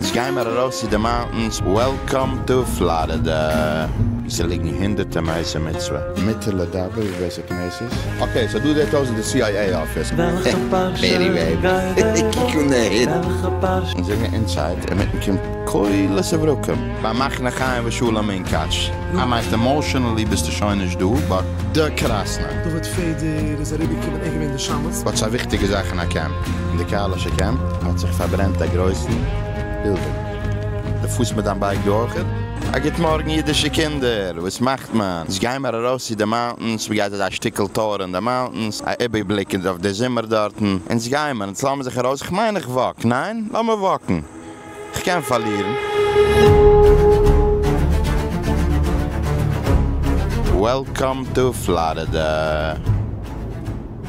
אונז גיי מיר ארויס צו די מאונטענס, וועלקאם טו פלארידע! ס'ליגן הונדערטע מעשי מצוה. מותר לדבר ווער ס'קנסות? אקעי סאו דא זעט אויס איז די סי איי עי אפיס. פערי וועיב, קוק אן די היט. אונז זענען אינסייד, אינמיטן קומט קהלת עברכים. ביי מחנה חיים ושלום אין קאטש. א מייסט עמאושענעלי ביסטו שוין נישט דא באט די קראסנא. דוד פעדער איז אריבערגעקומען אין געווען די. וואט איז א וויכטיגע זאך אין א קעמפ? אין די קהל'ישע קעמפ האט זיך פארברענט א גרויסן בילבול. די פארסט מיט דיין בייק דא אויכעט? א גוט מארגן אידישע קינדער! וואס מאכט מען? יעצט גייען מיר ארויס צו די מאונטענס, מען גייט אזא שטיקל טור אין די מאונטענס, א איבערבליק אויף די זומער דארטן, אונז גייען מיר, אונז לאמיר זיך ארויס, כ'מיין איך וואק, ניין? לאמיר וואקן! כ'קען פארלירן. וועלקאם טו פלארידע.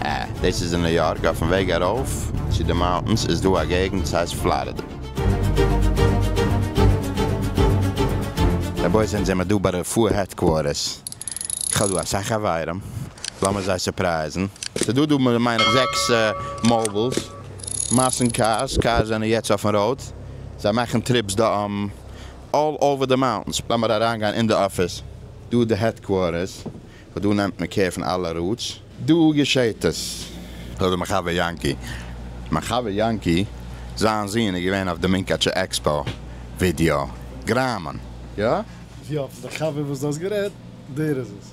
אה, דאס איז אין ניו יארק. אויפן וועג ארויף צו די מאונטענס איז דא א געגנט וואס הייסט פלארידע. רבותי זענט זעמער דא ביי רפואה העדקווארטערס. כ'האב דא אסאך חברים. לאמיר זיי סורפרייזן. ס'דא דא מיין איך זעקס מאובילס. מאסן קארס, קארס זענען יעצט אויפן ראוד, זיי מאכן טריפס דא אלל אווער די מאונטענס, לאמיר אריינגיין אין די אפיס, דא איז די העדקווארטערס, וואס דא נעמט מען קער פון אלע ראודס. דא געשעהט עס. זאגט דער מיין חבר יענקי. מיין חבר יענקי זיין זון איז געווען אויף די מונקאטשע עקספאו ווידיאו גראמען, יא? ווי האט עס דער חבר וואס דו האסט גערעדט, דער איז עס.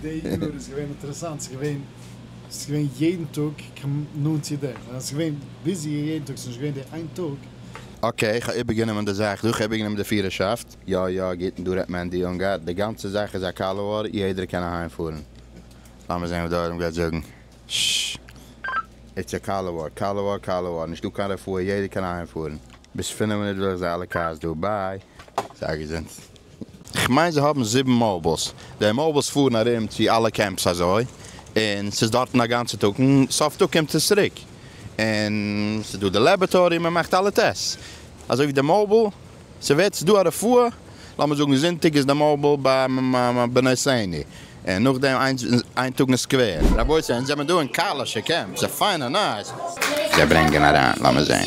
די יאר איז געווען אינטערעסאנט, ס'איז געווען, ס'איז געווען יעדן טאג כמ נ צו די, און אז ס'איז געווען ביזי יעדן טאג, ס'איז נישט געווען די איין טאג. אקעי, כ'האב איבערגענומען די זאך דא, כ'האב איבערגענומען די פירערשאפט. יא יא, גוט, און דא רעדט מענדי אונגאר, די גאנצע זאך איז א קאלאואר, יעדער קען אהיים פארן. לאמיר זען וואס די עולם גייט זאגן. ש. איטס א קאלאואר, קאלאואר, קאלאואר, נישטא קיין רפואה, יעדער קען אהיים פארן. ביז פֿינף מינוט וויל איך זיי אלע קארס דא ביי זיי געזונט. כ'מיין זיי האבן זיבן מאובילס, די מאובילס פארן ארום צו אלע קעמפס אזוי, און ס'איז דארטן א גאנצע טאג, און סוף טאג קומט עס צוריק, און ס'איז דא די לעבערטארי, מען מאכט אלע טעסטס, אזוי ווי די מאוביל, ס'ווערט, ס'איז דא א רפואה, לאמיר זאגן זונטאג איז די מאוביל ביי בני סעני, און נאכדעם איין טאג אין סקווער. רבותי, אונז זעמער דא אין קהל'ישע קעמפ, ס'איז פיין און נייס. זיי ברענגען אריין, לאמיר זען.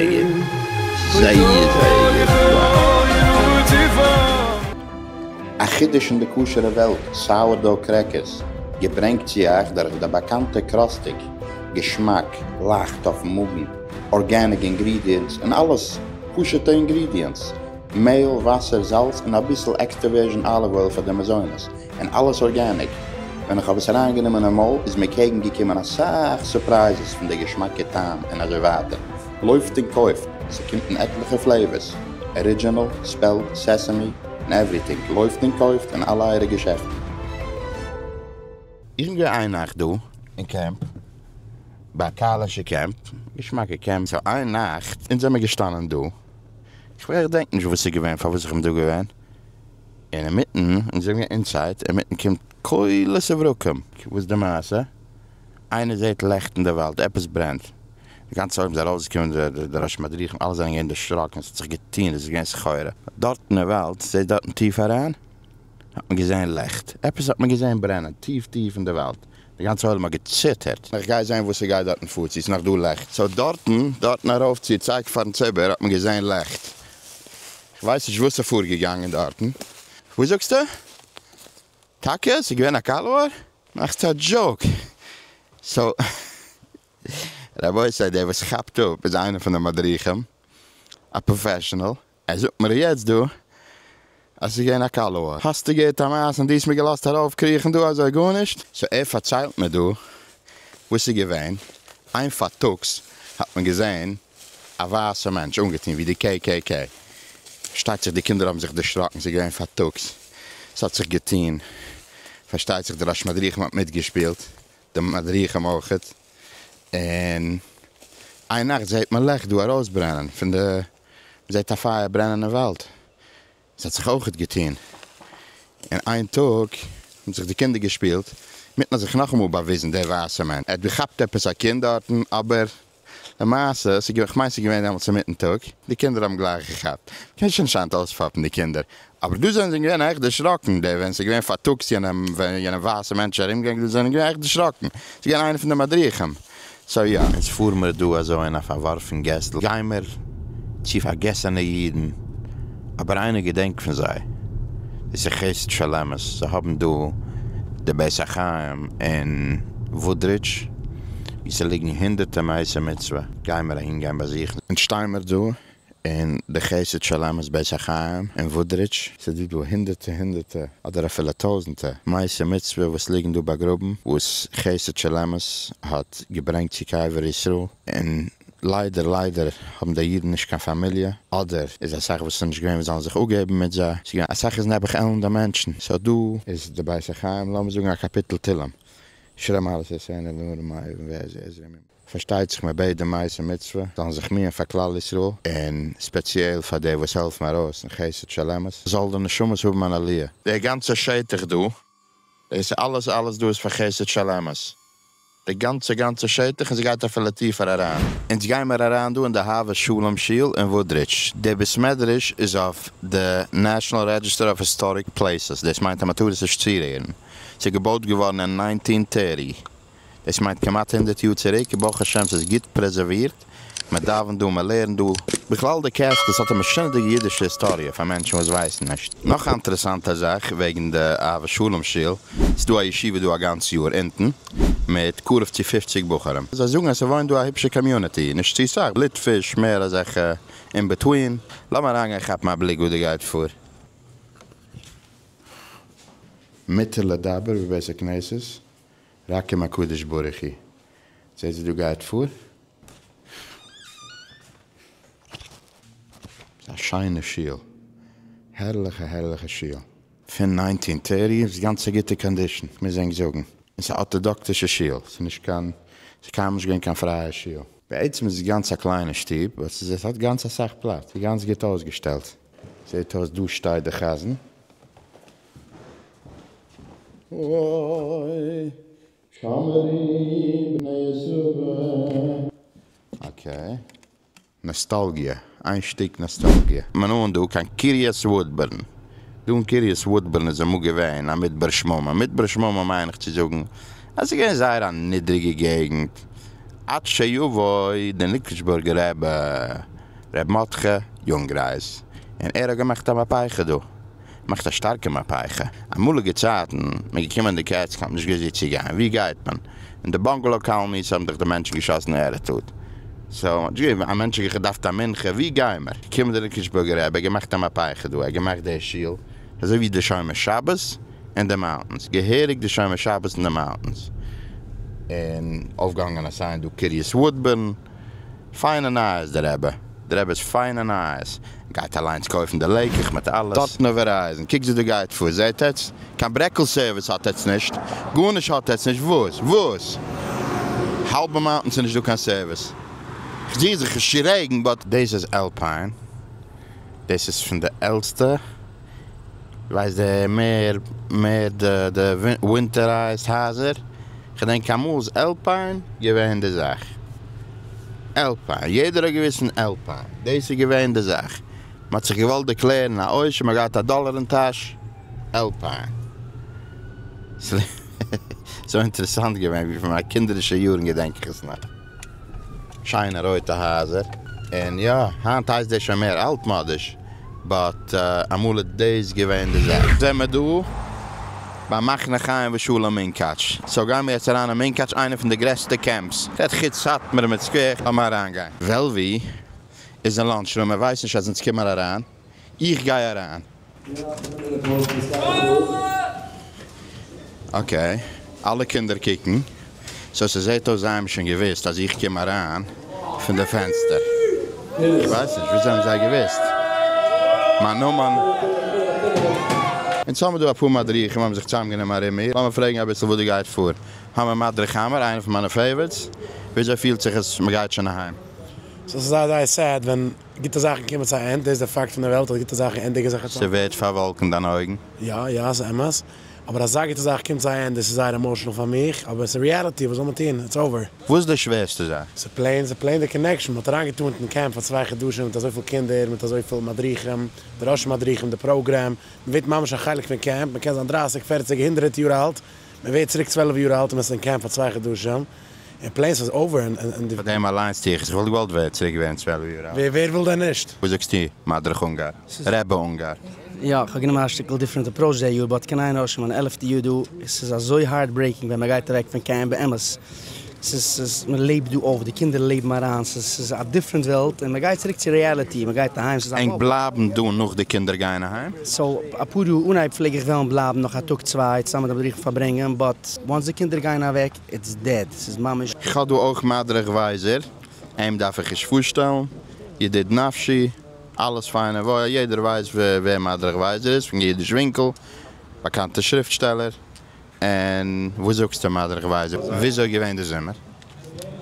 זעהן זייער זייער יפה. א חידוש אין די כשר'ע וועלט, סאוערדאו קרעקערס, געברענגט צו אייך דורך די באקאנטע קראסטיג, געשמאק, לייכט אויפן מאגן, ארגעניג אינגרידיענטס און אלעס פשוטע אינגרידיענטס, מעהל, וואסער, זאלץ און אביסל עקסטערווערזשען אליוו אויל פאר די מזונות, און אלעס ארגעניק, ווען איך האב עס אריין גענומען אין מויל איז מיר קעגן געקומען אסאך סורפרייזעס פון די געשמאקע טעם און אזוי ווייטער, לויפט און קויפט, ס'קומט אין עטליכע פלעיווערס, ארידזשענעל, ספעלט, סעסעמי, און עווריטינג, לויפט און קויפט אין אלע אייערע געשעפטן. איך גיי איין נאכט דא אין קעמפ, ביי קהל'ישע קעמפ, געשמאקע קעמפ, סאו איין נאכט אונז זעמער געשטאנען דא, כ'ווער דענק נישט וואס ס'איז געווען פארוואס איך בין דא געווען, און אינמיטן, און זיי האבן געהאט אינסייט, אינמיטן קומט קולות וברקים. וואס איז די מעשה? איינער זעהט לעכט אין די וואלד, עפעס ברענט. די גאנצע עולם איז ארויסגעקומען, די ראשי מדריכים, אלע זענען געווען דערשראקן, עס האט זיך געטון, עס איז געווען סחורה. דארטן אין וואלד, זעהט דארטן טיף אריין, האט מען געזעהן לעכט, עפעס האט מען געזעהן ברענען, טיף טיף אין די וואלד, די גאנצע עולם האט געציטערט. איך גיי זעהן וואס ס'גייט דארטן פאר, צו עס איז נאך דא לעכט. סאו דארטן, דארטן ארויף צו, צייגט פארן ציבור, האט מען געזעהן לעכט. כ'ווייס נישט וואס איז פארגעגאנגען דארטן. וואס זאגסטו? טאקע? ס'איז געווען א קאלד וואר? מאכסט א דזשאוק? סאו רבותי דער וואס כאפט אפ איז איינער פון די מדריכים, א פראפעשענעל, ער זאגט מיר יעצט דא אז ס'איז געווען א קאלד וואר. האסטו געהערט א מעשה און דו האסט מיר געלאזט ארויפקריכן דא אזוי גארנישט? סאו ער פארציילט מיר דא וואס ס'איז געווען, איין פארטאגס האט מען געזען א ווייסע מענטש אנגעטון ווי די קעי קעי קעי, פארשטייט זיך די קינדער האבן זיך דערשראקן, ס'איז געווען פארטאגס, ס'האט זיך געטון, פארשטייט זיך די ראש מדריכים האט מיטגעשפילט, די מדריכים אויך, און איין נאכט זעט מען לעכט דא ארויסברענען פון די, מ'זעט א פייער ברענען אין וואלד, ס'האט זיך אויכעט געטוהן אין איין טאג, האבן זיך די קינדער געשפילט מיט און זיך נאכאמאל באוויזן דער ווייסער מאן, ער האט געכאפט עפעס א קינד דארטן, אבער למעשה, כ'מיין ס'איז געווען דעמאלטס אינמיטן טאג, די קינדער האבן גלייך געכאפט, מ'קען שוין אנשיידט אויספאפן די קינדער, אבער דא זענען זיי געווען עכט דערשראקן, די ווען ס'איז געווען פארטאגס יענע ווייסע מענטשן ארומגעגאנגען זענען געווען עכט דערשראקן, ס'איז געווען איינער פון די מדריכים. סאו יא, אונז פאר מיר דא אזוי אין א פארווארפן געסל, גיימער צו פארגעסענע אידן, אבער איינער געדענקט פון זיי, דאס איז חסד של אמת, זיי האבן דא די בית החיים אין וואודרידזש, ווי ס'ליגן הונדערטע מעשי מצוה, גיימער אהין גיין באזוכן. אונז שטיימער דא און די חסד שלמות בית החיים אין וואודרידזש, ס'דא דא הונדערטע הונדערטע אדער אפילו טויזענטע מעשי מצוה וואס ליגן דא באגראבן וואס חסד שלמות האט געברענגט צו קבר ישראל, און ליידער ליידער האבן די אידן נישט קיין פאמיליע, אדער איז אסאך וואס ס'נישט געווען וואס זאלן זיך אפגעבן מיט זיי, ס'איז געווען אסאך איז נעבעך עלנדע מענטשן, סאו דא איז די בית החיים לאמיר זאגן א קאפיטל תהלים, שירי מעלות יעשנו לנערים מאהיבים ועזרי עזרי מימים. פארשטייט זיך מען בעט די מעשה מצוה זאלן זיך מיען פאר כלל ישראל און ספעציעל פאר די וואס העלפן ארויס אין חסד של אמת זאל די נשמות האבן אן עליה. דער גאנצער שטח דא, דאס אלעס אלעס דא איז פאר חסד של אמת, די גאנצע גאנצע שטח און ס'גייט אפילו טיפער אריין. אונז גיימער אריין דא אין די אהבת שלום שול אין וואודרידזש, דער בית מדרש איז אויף די נעשאנעל רעדזשיסטער אוו היסטאריק פלעיסעס, דאס מיינט אז מ'טאר עס נישט צורירן, ס'איז געבויט געווארן אין ניינטין טערטי. דאס מיינט כמעט הונדערט יאר צוריק, ברוך השם ס'איז גוט פרעזערווירט, מען דאווענט דא, מען לערנט דא. בכלל די קעסטל ס'האט א משונה'דיגע אידישע היסטאריע פאר מענטשן וואס ווייסן נישט. נאך א אינטערעסאנטע זאך וועגן די אהבת שלום שול, ס'איז דא א ישיבה דא א גאנץ יאר אונטן, מיט קרוב צו פופציג בחורים, זיי זאגן אז ס'וואוינט דא א היפשע קאמיוניטי, נישט צו סאך, ליטפיש, מער אזעלכע אין בעטווין. לאמיר אריינגיין כאפן א בליק וואס דא גייט פאר. מותר לדבר בבית הכנסת? רחם הקדוש ברוך הוא. זעט זי דא גייט פאר. ס'איז א שיינע שול. הערליכע הערליכע שול. פון ניינטין טערטי איז גאנץ גוטע קאנדישן, כ'מוז ענק זאגן. און ס'איז א ארטאדאקטישע שול. ס'איז נישט קיין, ס'איז קיינמאל נישט געווען קיין פרייע שול. בעצם איז עס גאנץ א קליינע שטוב, באט ס'איז עס האט גאנץ אסאך פלאץ, איז גאנץ גוט אויסגעשטעלט. זעט אויס דא שטייט די חזן. אוי שמערי בני יששכר. אקעי. נאסטאלגיע. איין שטיק נאסטאלגיע. מען אהן דא קיין קיריעס וואודבערן. דא אין קיריעס וואודבערן איז אמאל געווען א מדבר שממה. מדבר שממה מיין איך צו זאגן אז ס'איז געווען זייער א נידריגע געגנט. עד שיבוא דער ניקלשבורגער רבי ר' מרדכי יונגרייז און ער האט געמאכט א מהפיכה דא. מאכט א שטארקע מהפכה. אמאליגע צייטן מען געקומען די קעץ כ'האב נישט געוואוסט ווי צו גיין ווי גייט מען אין די באנגעלאו קאלאניס האבן דיך די מענטשן געשאסן ערעטאד סאו מ'האט נישט געווען א מענטש האט געדארפט א מנחה ווי גיי מיר קומט די ריקושבורגע רבי ער געמאכט א מהפכה דא ער געמאכט די שול אזוי ווי די שומר שבת אין די מאונטענס געהעריג די שומר שבת אין די מאונטענס און אויפגעהאנגען א סיין דא קרית וואודבורן. פיינע נייעס די רעבע. די רעבע איז פיינע נייעס. גייט אליינס קויפן די לעיקעך מיט אלעס. דארטן אויף ווערייזן. קוק זי דא גייט פאר. זעהט עטס? קיין ברעקל סערוויס האט עטס נישט. גארנישט האט עטס נישט. וואס? וואס? האלבע מאונטען ס'נישט דא קיין סערוויס. כ'זיך זיך נישט צו רעגן באט. דאס איז אלפיין. דאס איז פון די עלסטע. ווייסט דער מער מער די די ווינטערייזד הייזער, כ'דענק אמאל איז עלפיין געווען די זאך, עלפיין, יעדער האט געוויסט פון עלפיין, דאס איז געווען די זאך, מ'האט זיך געוואלט דערקלערן א עושר, מ'האט געהאט א דאלער אין טאש, עלפיין. ס'איז אינטערעסאנט געווען, ווי פון מיינע קינדערישע יארן געדענק איך עס נאך. שיינע רויטע הייזער, און יא, היינט הייסט דאס שוין מער אלטמאדיש, באט אמאל איז דאס געווען די זאך. זעמער דא ביי מחנה חיים ושלום מונקאטש, סאו גיימער יעצט אריין אין מונקאטש, איינע פון די גרעסטע קעמפס, רעדט חוץ סאטמאר מיט סקווער, לאמיר אריינגיין. וועלווי איז אין לאנטש רום, ער ווייסט נישט אז אונז קומען אריין. איך גיי אריין. אקעי, אלע קינדער קוקן, סאו ס'זעהט אויס זיי האבן שוין געוואוסט אז איך קום אריין פון די פענסטער. איך ווייס נישט וויאזוי האבן זיי געוואוסט מיין נאמען? און צו האבן דא אפאר מדריכים האבן זיך צוזאמגענומען ארום מיר, לאמיר פרעגן אביסל וואס דא גייט פאר. האמיר מדריך האמיר, איינער פון מיינע פעיווערטס, וויאזוי פילט זיך עס מ'גייט שוין אהיים? סאו ס'איז זייער זייער סעד ווען גוטע זאכן קומען צו א ענד, דאס איז דער פאקט פון דער וועלט אז גוטע זאכן ענדיגן זיך אצינד. ס'ווערט פארוואלקנט דיינע אויגן? יא יא ס'איז אמת, אבער אזא גוטע זאך קומט צו א ענד, עס איז זייער עמאשענעל פאר מיך, אבער ס'איז ריעליטי, וואס זאל מען טון, איטס אווער. וואס איז די שווערסטע זאך? ס'איז פלעין, ס'איז פלעין די קאנעקשאן, מ'האט אריינגעטאן אין קעמפ פאר צוויי חדשים מיט אזויפיל קינדער, מיט אזויפיל מדריכים, די ראשי מדריכים, די פראגרעם, מ'ווערט ממש א חלק פון קעמפ, מ'קען זיין דרייסיג, פערציג, הונדרעט יאר אלט, מ'ווערט צוריק צוועלף יאר אלט און מ'איז אין קעמפ פאר צוויי חדשים. און פלענס אז אויבערן און די. פאר דעם אליינס טו איך עס, איך וואלט געוואלט ווער צוריק ווערן צוועלף יאר אלט. ווער וויל דען נישט? וואס זאגסטו מדריך אונגאר? רעבע אונגאר? יא, איך האב גענומען א שטיקל דיפרענט אפראוטש דעי יאר, באט קען איינער רשום אן עלעפטע יאר דא? עס איז אזוי הארט ברעיקינג ווען מען גייט אוועק פון קעמפ, באמת, עס איז, עס איז, מען לעבט דא אויף, די קינדער לעבן אריין, עס איז, עס איז א דיפרענט וועלט, און מען גייט צוריק צו רעאליטי, מען גייט אהיים, עס איז א בלוף. ענק בלייבן דא נאך די קינדער גייען אהיים? סאו, אפאר יאר אנהייב פלעג איך וועלן בלייבן נאך א טאג צוויי צוזאמען מיט די מדריך און פארברענגען, באט, וואנס די קינדער גייען אוועק, איטס דעד, ס'איז ממש. איך האב דא אויך מדריך ווייזער, אים דארף איך נישט פארשטעלן, ידיד נפשי, אלעס פיינע וואויל, יעדער ווייסט ווער מדריך ווייזער איז, פון אידיש ווינקל, באקאנטע שריפטשטעלער, און וואס זאגסטו מדריך ווייזער, וויאזוי געווען די זומער?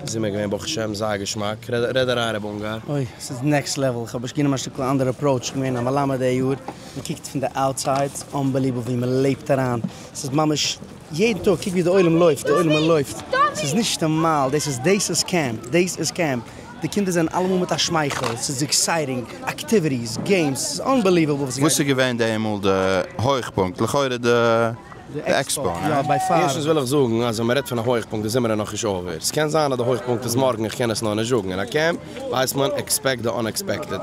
זומער געווען ברוך השם זייער געשמאק, רעד אריין ר' אונגאר. אוי, ס'איז נעקסט לעוועל, איך האב נישט גענומען א שטיקל אנדערע אפראוטש, איך בין געווען א מלמד די יאר, מ'קוקט פון די אוטסייד, ס'אנבעליוועבל ווי מ'לעבט אריין, ס'איז ממש. יעדן טאג קוק ווי די עולם לויפט די עולם'ער לויפט ס'איז נישט נארמאל דאס איז דאס איז קעמפ דאס איז קעמפ די קינדער זענען אלעמאל מיט א שמייכל ס'איז עקסייטינג אקטיוויטיס געימס ס'איז אנבעליוועבל וואס איז געווען די אמאל די הויכפונקט? לכאורה די עקספאו ניין? ערשטנס וויל איך זאגן אז ווען מען רעדט פון א הויכפונקט די זומער איז נאכנישט אווער ס'קען זיין אז די הויכפונקט איז מארגן איך קען עס נאר נישט זאגן אין א קעמפ ווייסט מען עקספעקט די אנעקספעקטעד.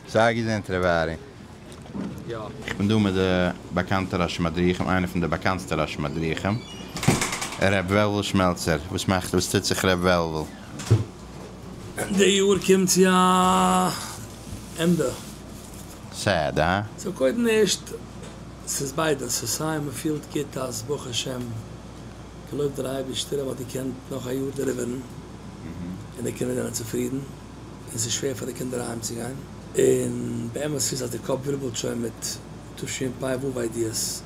זייער געזונט ר' ארי. איך בין דא מיט די באקאנטע ראשי מדריכים, איינער פון די באקאנטסטע ראשי מדריכים, ר' וועלוול שמעלצער, וואס מאכט, וואס טוט זיך ר' וועלוול? די יאר קומט צו א ענדע. סעד, הא? סאו קודם ערשט, ס'איז ביידע, ס'איז סיי מ'פילט גוט אז ברוך השם, געלויבט דער אייבערשטער, ער האט געקענט נאך א יאר דעליווערן, און די קינדער זענען צופרידן. און ס'איז שווער פאר די קינדער אהיימצוגיין, און באמת איז אז די קאפ ווירבלט שוין מיט תשי פ א וו איידיעס,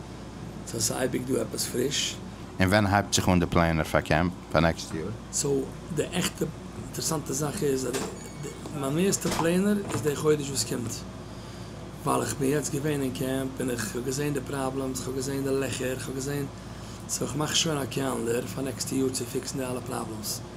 סאו ס'איז אייביג דא עפעס פריש. און ווען הייבט זיך אן די פלענער פאר קעמפ פאר נעקסט יאר? סאו די עכטע אינטערסאנטע זאך איז אז מיין מערסטע פלענער איז די חודש וואס קומט, ווייל איך בין יעצט געווען אין קעמפ און איך האב געזען די פראבלעמס, איך האב געזען די לעכער, איך האב געזען, סאו איך מאך שוין א קעלנדער פאר נעקסטע יאר צו פיקסן די אלע פראבלעמס.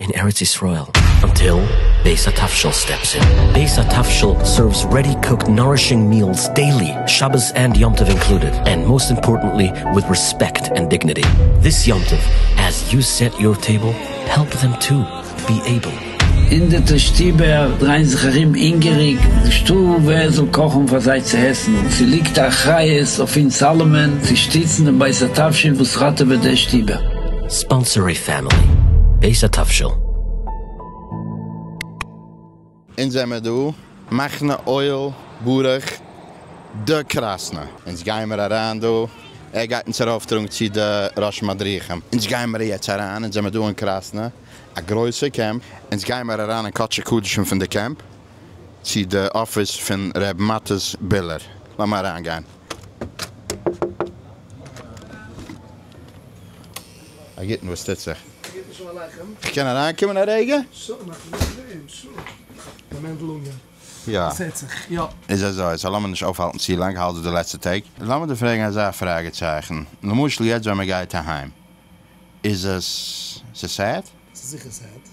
אין ארץ ישראל אנטיל בית התבשיל סטעפס אין. בית התבשיל סערווס רעדי קוקד נארישינג מיעלס דעילי, שבת ענד יום טוב אינקלודעד, ענד מאסט אימפארטענטלי וויט רעספעקט ענד דיגניטי דיס יום טוב, עז יו סעט יור טעיבל העלפ דעם טו בי עיבל. אין די טו שטיבער דרייען זיך ארום הינגעריג נישטא ווער עס זאל קאכן פאר זיי צו עסן, און ס'ליגט א אחריות אויף אונז אלעמען צו שטיצן דעם בית התבשיל וואס ראטעוועט די שטיבער. ספאנסערי פעמילי בעז ה תבשיל. אונז זעמער דא, מחנה אוהל ברוך ד קראסנא. אונז גיימער אריין דא, ער גייט אונז ארויפטראגן צו די ראש מדריכים. אונז גיימער יעצט אריין, אונז זעמער דא אין קראסנא, א גרויסע קעמפ. אונז גיימער אריין אין קדשי קדשים פון די קעמפ, צו די אפיס פון ר' מטות ביללער. לאמיר אריינגיין. א גוטן, וואס טוט זיך? א גוטן שלום עליכם. איך קען אריינקומען א רגע? שא, מאכט מען נישט דעם שא. די מענדל אונגאר. יא. עס הערט זיך. יא. איז אזוי, סא לאמיר נישט אויפהאלטן צו לאנג, האלט די די לעצטע טעג. לאמיר דיר פרעגן אזא פראגע צייכן, למשל יעצט ווען מען גייט אהיים, איז עס, ס'איז סעד? ס'איז זיכער סעד.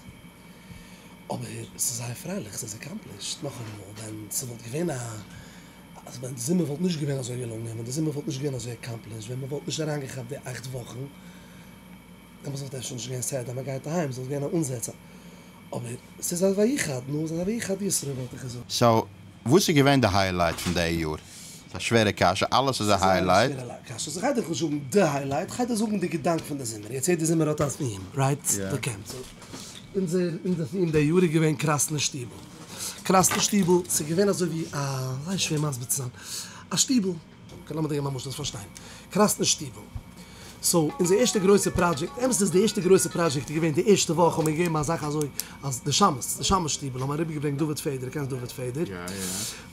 אבער ס'איז זייער פרייליך, ס'איז עקאמפלישד. נאכאמאל, ווען ס'וואלט געווען א אז ווען די זומער וואלט נישט געווען אזוי געלונגען, ווען די זומער וואלט נישט געווען אזוי עקאמפלישט, ווען מ'וואלט נישט אריינגעכאפט די אכט וואכן, דעמאלטס וואלט אפשר נישט געווען סדר מ'גייט אהיים, עס וואלט געווען א אנזעצער, אבער ס'איז א ויחד, נו, ס'איז א ויחד ישראל וואלט איך געזאגט. סאו וואס איז געווען די היילייט פון די יאר? ס'איז א שווערע קשיא, אלעס איז א היילייט. ס'איז זייער א שווערע קשיא, ס'איז כ'גיי דיך נישט זאגן די היילייט, כ'גיי דיך זאגן די געדאנק פון די זומער, יעצט יעדע זומער האט א טעם, רייט? די קעמפ. אין די יאר איז געווען קראסנע שטיבל, קראסנע שטיבל ס'איז געווען אזוי ווי א, זייער שווער מסביר צו זיין, א שטיבל, אקעי לאמיר דינגען מיין משל זאלסט פארשטיין, קראסנע שטיבל, סאו אונזער ערשטע גרויסע פראדזשעקט, אמת איז די ערשטע גרויסע פראדזשעקט איז געווען די ערשטע וואך האבן מיר געגעבן א זאך אזוי אז די שמות, די שמות שטיבל האבן אריבער געברענגט דוד פעדער, קענסט דוד פעדער?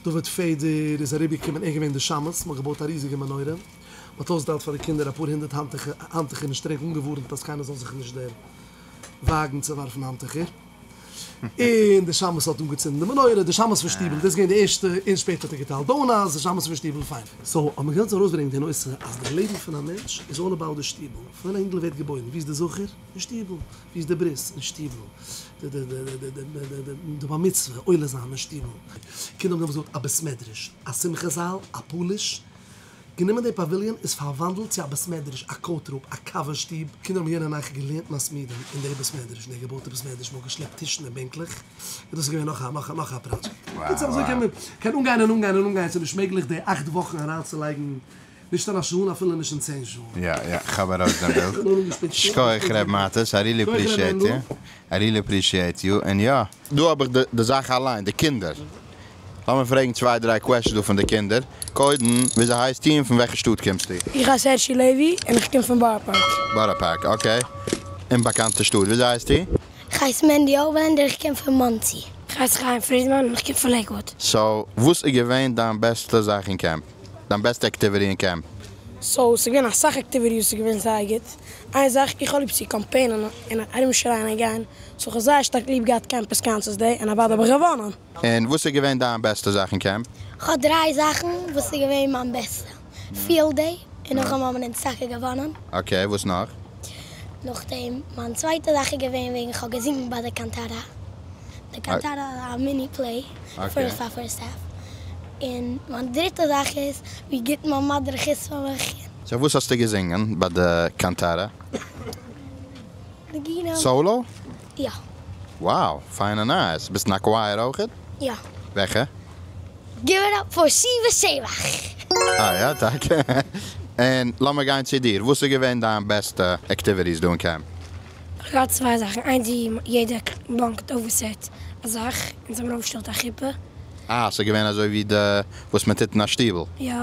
דוד פעדער איז אריבער געקומען ער איז געווען די שמות, מ'האט געבויט א ריזיגע מנורה, מ'האט אויסגעטיילט פאר די קינדער אפאר הונדערט האנטוכער און שטריק אנגעווארנט אז קיינער זאל זיך נישט דער. וואגן צו ווארפן האנטוכער, און די שמש האט אנגעצינדן די מנורה, די שמש פון שטיבל, דאס איז געווען די ערשטע, און שפעטער האט ער געטיילט דאונאטס, די שמש פון שטיבל, פיין. סאו האט מען געוואלט ארויסברענגען די נושא אז די לעבן פון א מענטש איז אלל אבאוט די שטיבל, פון ווען א אינגל ווערט געבוירן, ווי איז די זכר? אין שטיבל, ווי איז די ברית? אין שטיבל, די בר מצוה, עולה זיין, אין שטיבל. קינדער האבן דעמאלטס געהאט א בית מדרש, א שמחה זאל, א פאליש, גענומען די פאוויליאן איז פארוואנדלט צו א בית מדרש, א קאוט רום, א קאווע שטוב, קינדער האבן יענע נאכט געלערנט מסמידים אין די בית מדרש, די געבויטע בית מדרש, מ'האט געשלעפט טישן און בענקלעך, און דאס איז געווען נאך א נאך א נאך א פראדזשעקט. בקיצור אזוי קען מען קען אנגיין און אנגיין און אנגיין, ס'איז נישט מעגליך די אכט וואכן אריינצולייגן נישט אין א שעה און אפילו נישט אין צען שעה. יא יא כ'האב ארויס דיין בילד. שכוח ר' מאטעס, איי רילי אפרישיעט יו, איי רילי אפרישיעט יו, און יא. דא האב איך די זאך אליין, די קינדער. לאמיר פרעגן צוויי דריי קוועשנס דא פון די קינדער. קודם, וויאזוי הייסטו און פון וועלכע שטאט קומסטו? איך הייס הערשי לעווי און איך קום פון בארא פארק. בארא פארק, אקעי. אומבאקאנטע שטאט. וויאזוי הייסטו? איך הייס מענדי אויבערלענדער איך קום פון מאנסי. איך הייס חיים פרידמאן און איך קום פון לעיקוואד. סאו, וואס איז געווען דיין בעסטע זאך אין קעמפ? דיין בעסטע עקטיוויטי אין קעמפ? סאו ס'איז געווען אסאך עקטיוויטי וואס איז געווען זייער גוט, איין זאך איך האב ליב צו קאמפיינען און ארום שרייען און גיין, סאו כ'האב זייער שטארק ליב געהאט קעמפ וויסקאנסעס דעי און אוודאי האב איך געוואנען. און וואס איז געווען דיין בעסטע זאך אין קעמפ? כ'האב דריי זאכן וואס איז געווען מיין בעסטע, פיעלד דעי און נאכדעם האבן אונז טאקע געוואנען. אקעי וואס נאך? נאכדעם מיין צווייטע זאך איז געווען וועגן כ'האב געזינגן ביי די קאנטארא, די קאנטארא איז א מיני פלעי. פון סאפער סטעף, און מיין דריטע זאך איז ווי גוט מיין מדריך איז פון וועלכע. סאו וואס האסטו געזינגען ביי די קאנטארע? נגינה. סאולא? יא. וואו! פיינע נייעס! ביסט אין א קווייער אויכעט? יא. וועלכע? גיב איט אפ פאר שיבה שבח! אה יא? טאקע? און לאמיר גיין צו דיר, וואס איז געווען דיין בעסטע עקטיוויטיס דא אין קעמפ? כ'האב צוויי זאכן, איינס ווי יעדער באנקט אויף וואס ער האט א זאך, אונז האבן אויפגעשטעלט א חופה. אה, ס'איז געווען אזוי ווי די וואס מען טוט אין א שטיבל? יא.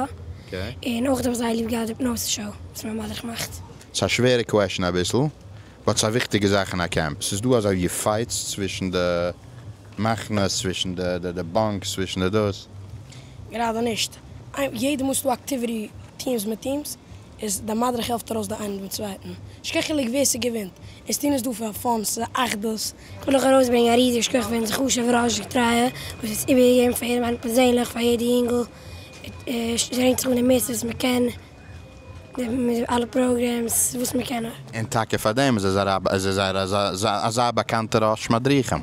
אקעי. און אויך האב איך זייער ליב געהאט די פנאסע שאו וואס מיין מדריך מאכט. ס'איז א שווערע קוועשן אביסל, באט ס'איז א וויכטיגע זאך אין א קעמפ. ס'איז דא אזוי ווי פייטס צווישן די מחנות, צווישן די באנקס, צווישן די דאס? גראדע נישט. יעדע מאל ס'איז דא אקטיוויטי טיעמס מיט טיעמס, איז די מדריך העלפט ארויס די איינעם דעם צווייטן, נישט קיין חילוק ווער ס'געווינט, אונז טוהן עס דא פאר פאן, ס'איז א אחדות. קען איך ארויסברענגען א ריזיגע שכח פאר אונזער חשוב'ער ראש געטרייע וואס האט עס איבערגעגעבן פאר יעדעם איינעם פערזענליך, פאר יעדע יונגל, שטרענגט זיך אן די מערסטע וואס מ'קען, מיט די אלע פראגרעמס וואס מ'קען. און טאקע פאר דעם איז ער איז ער זייער אזא באקאנטער ראש מדריכים.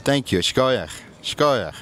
טענק יו, שקויעך, שקויעך.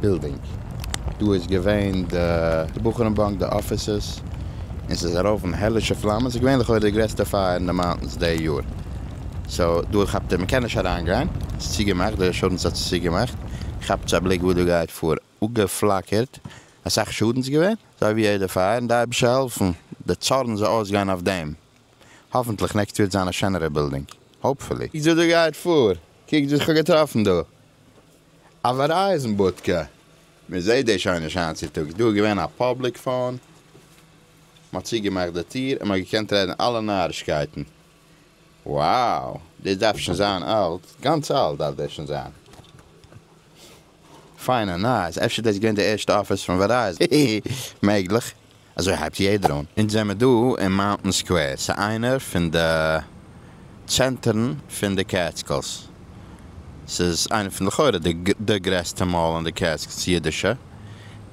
בילדינג, דא איז געווען די בחורים באנק, די אפיסעס, און ס'איז ארויף אין העלישע פלאמען, ס'איז געווען לכאורה די גרעסטע פייער אין די מאונטענס די יאר, סאו דא כאפט ער מ'קען נישט אריין גיין, ס'איז צוגעמאכט, די אינשורענס האט עס צוגעמאכט, כאפטס א בליק וואס דא גייט פאר, אפגעפלאקערט, אסאך שאדנס געווען, אזוי ווי יעדע פייער, און די אייבישטער העלפן די צארן זאל אויסגיין אויף דעם, האפענטליך נעקסט וועט זיין א שענערע בילדינג, האופפולי. קוקטס וואס דא גייט פאר, קוקטס וואס כ'האב געטראפן דא, א ווערייזן בודקע, מען זעט דאס שוין נישט היינט צוטאגס, דא איז געווען א פאבליק פאון, מען האט צוגעמאכט די טיר און מען האט געקענט רעדן אלע נארישקייטן, wow דאס דארף שוין זיין אלט, גאנץ אלט דארף דאס שוין זיין, פיינע נייעס, אפשר איז דאס געווען די ערשטע אפיס פון ווערייזן, מעגליך. אזוי הייבט יעדער אן. אונז זעמער דא אין מאונטען סקווער, ס'איז איינער פון די צענטערן פון די קעטסקילס, ס'איז איינע פון לכאורה די גרעסטע מאל אין די קעטסקילס אידישע,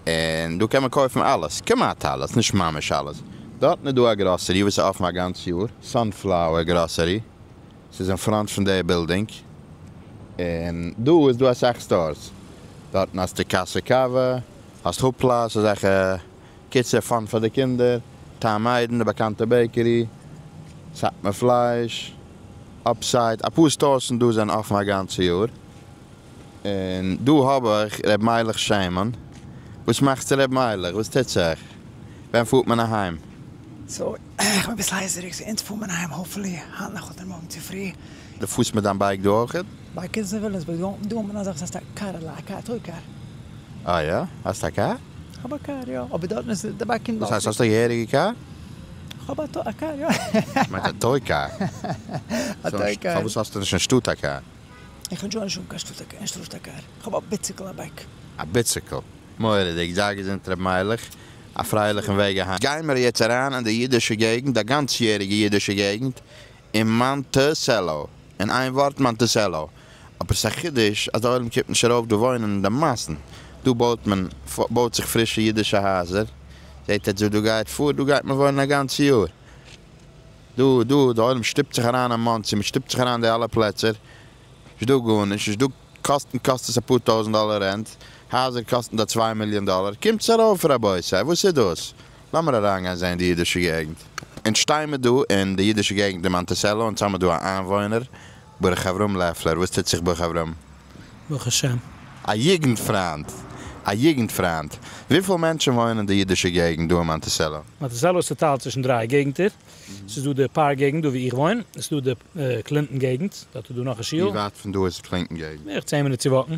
און דא קען מען קויפן אלעס, כמעט אלעס, נישט ממש אלעס, דארטן איז דא א גראסערי וואס איז אפן א גאנץ יאר, סאנפלאוער גראסערי, ס'איז אין פראנט פון די בילדינג, און דא איז דא אסאך סטארס, דארטן האסטו קאסע קאווע, האסט האפלאס אזעלכע קיצור פאן פאר די קינדער, טעם איידן, די באקאנטע בעיקערי, סאטמאר פלייש, אפסייט, אפאר סטארס און דא זענען אפן א גאנצע יאר, און דא האב איך ר' מיילעך שמן, וואס מאכסטו ר' מיילעך? וואס טוט זיך? ווען פארט מען אהיים? סאו איך בין אביסל הייזעריג, סאו אונז פאר מען אהיים האפפולי היינט נאכט אדער מארגן צופרי. די פארסט מיט דיין בייק דא אויכעט? ביי קידס אין וויליאמסבורג דא האט מען אזאך, ס'הייסט א קארעלע, א קאר, א טוי קאר. אה יא? האסט א קאר? כ'האב א קאר, יא. אבער דארטן איז די באקינג וואס הייסט האסט א געהעריגע קאר? כ'האב א טוי קאר יא. כ'מיין א טוי קאר. א טוי קאר. פארוואס האסטו נישט אין שטאט א קאר? איך האב שוין שוין קיין שטאט א קאר אין שטאט א קאר. כ'האב א ביציקל א בייק. א ביציקל. מורא'דיג. זיי געזונט ר' מיילעך. א פרייליכן וועג אהיים. גיימער יעצט אריין אין די אידישע געגנט, א גאנצ יעריגע אידישע געגנט, און מאנטיסעלא, אין איין ווארט מאנטיסעלא. אבער ס'איז א חידוש אז די עולם קומט נישט ארויף דא וואוינען אין די מאסן. דא בויט מען, בויט זיך פרישע אידישע הייזער. זעט עטס וואס דא גייט פאר, דא גייט מען וואוינען א גאנצע יאר. דא, דא, די עולם שטופט זיך אריין אין מאנסי, מען שטופט זיך אריין אין די אלע פלעצער. נישט דא גארנישט, נישט דא קאסטן קאסט עס אפאר טויזנט דאלער רענט, הייזער קאסטן דא צוויי מיליאן דאלער. קומטס ארויף רבותי, וואס איז דאס? לאמיר אריינגיין זעהן די אידישע געגנט. אונז שטיי מיר דא אין די אידישע געגנט אין מאנטיסעלא אונז האמיר דא א איינוואוינער ברך אברהם לעפלער וואס טוט זיך ברך אברהם? ברוך השם. א יוגנט פריינט! א יוגנט פריינט! וויפיל מענטשען וואוינען אין די אידישע געגנט דא אין מאנטיסעלא? מאנטיסעלא איז צוטיילט צווישן דריי געגנטער, ס'איז דא די פארק געגנט דא ווי איך וואוין, עס איז דא די קלינטאן געגנט, דארט איז דא נאך א שול. ווי ווייט פון דא איז קלינטאן געגנט? בערך צען מינוט צו וואקן.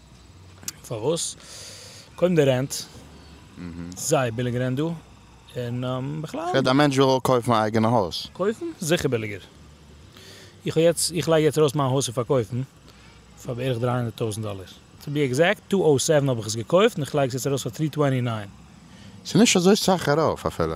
פארוואס? קודם די רענט, זייער ביליג רענט דא, און בכלל. כ'רעד א מענטש וויל קויפן א אייגענע הויז. קויפן? זיכער ביליגער. איך האב יעצט, איך לייג יעצט ארויס מיין הויז צו פארקויפן, פאר בערך דרײַ הונדערט טויזנט דאלער. טו בי עקזעקט, טו אויס זעווען האב איך עס געקויפט, און איך לייג עס יעצט ארויס פאר טרי טווענטי ניין. ס'איז נישט אזוי סאך ארויף אפילו.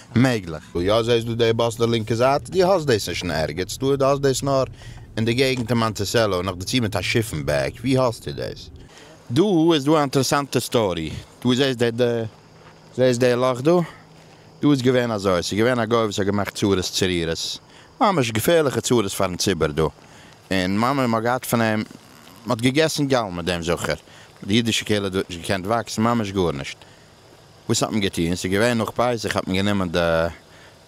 מעגליך. וואו יא זעהסטו די באס די לינקע זייט? דו האסט דאס נישט אין ערגעץ דא, דו האסט דאס נאר אין די געגנט אין מאנטיסעלא און נאכדערצו מיט א שיפן בעק, וואו האסטו דאס? דא איז דא א אינטערעסאנטע סטארי, דו זעהסט די די זעהסט די לאך דא? דא איז געווען אזוי, ס'איז געווען א גוי וואס האט געמאכט צרות צרירות, ממש געפערליכע צרות פארן ציבור דא, און ממ מ האט געהאט פון אים, מ'האט געגעסן גאלמער דעם זכר, די אידישע קהילה האט דארט נישט געקענט וואקסן ממש גארנישט, וואס האט מען געטון? ס'איז געווען נאך פסח האט מען גענומען די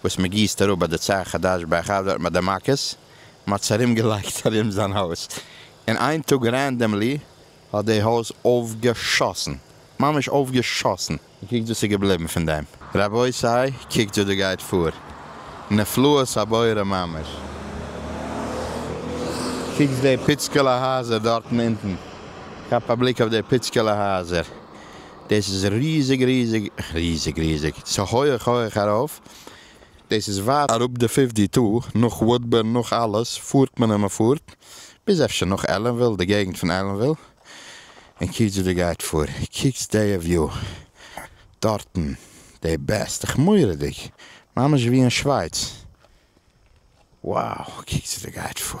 וואס מ'גיסט אראפ ביי די צאה חדש ביי אחאב דארט ביי די מכות, מ'האט עס ארום געלייגט ארום זיין הויז, און איין טאג רענדאמלי האט די הויז אויפגעשאסן, ממש אויפגעשאסן. און קוקט וואס איז געבליבן פון דעם. רבותי, קוקט וואס דא גייט פאר. נפלאות הבורא ממש. קוקטס די פיצקעלע הייזער דארטן אונטן. כאפ א בליק אויף די פיצקעלע הייזער. דאס איז ריזיג ריזיג ריזיג ריזיג, ס'איז הויעך הויעך ארויף, דאס איז ווייט אראפ די פיפט די טא, נאך וואודבערן נאך אלעס פארט מען און מ'פארט, ביז אפשר נאך עלענוויל די געגנט פון עלענוויל, און קיצור די גייט פאר, קוקטס דעיע וויו דארטן, די בעסט, איך מורא'דיג, ממש ווי אין שווייץ, wow קוקטס די גייט פאר.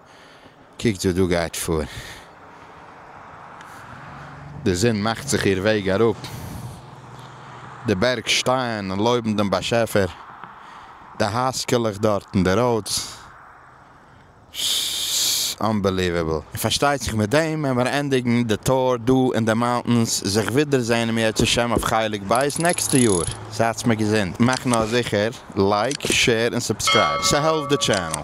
קוקט וואס דא גייט פאר, די זון מאכט זיך איר וועג אראפ, די בערג שטייען און לויבן דעם באשעפער, די הייזקעלעך דארט און די ראודס, ס-ס-ס אנבעליוועבל. און פארשטייט זיך מיט דעם ווען מיר ענדיגן די טור דא אין די מאונטענס, זיך ווידער זעהן אם ירצה השם אויף חלק ב' נעקסטע יאר, זייטס מיר געזונט, מאכט נאר זיכער לייק, שעיר און סובסקרייב, ס'העלפט די טשענעל.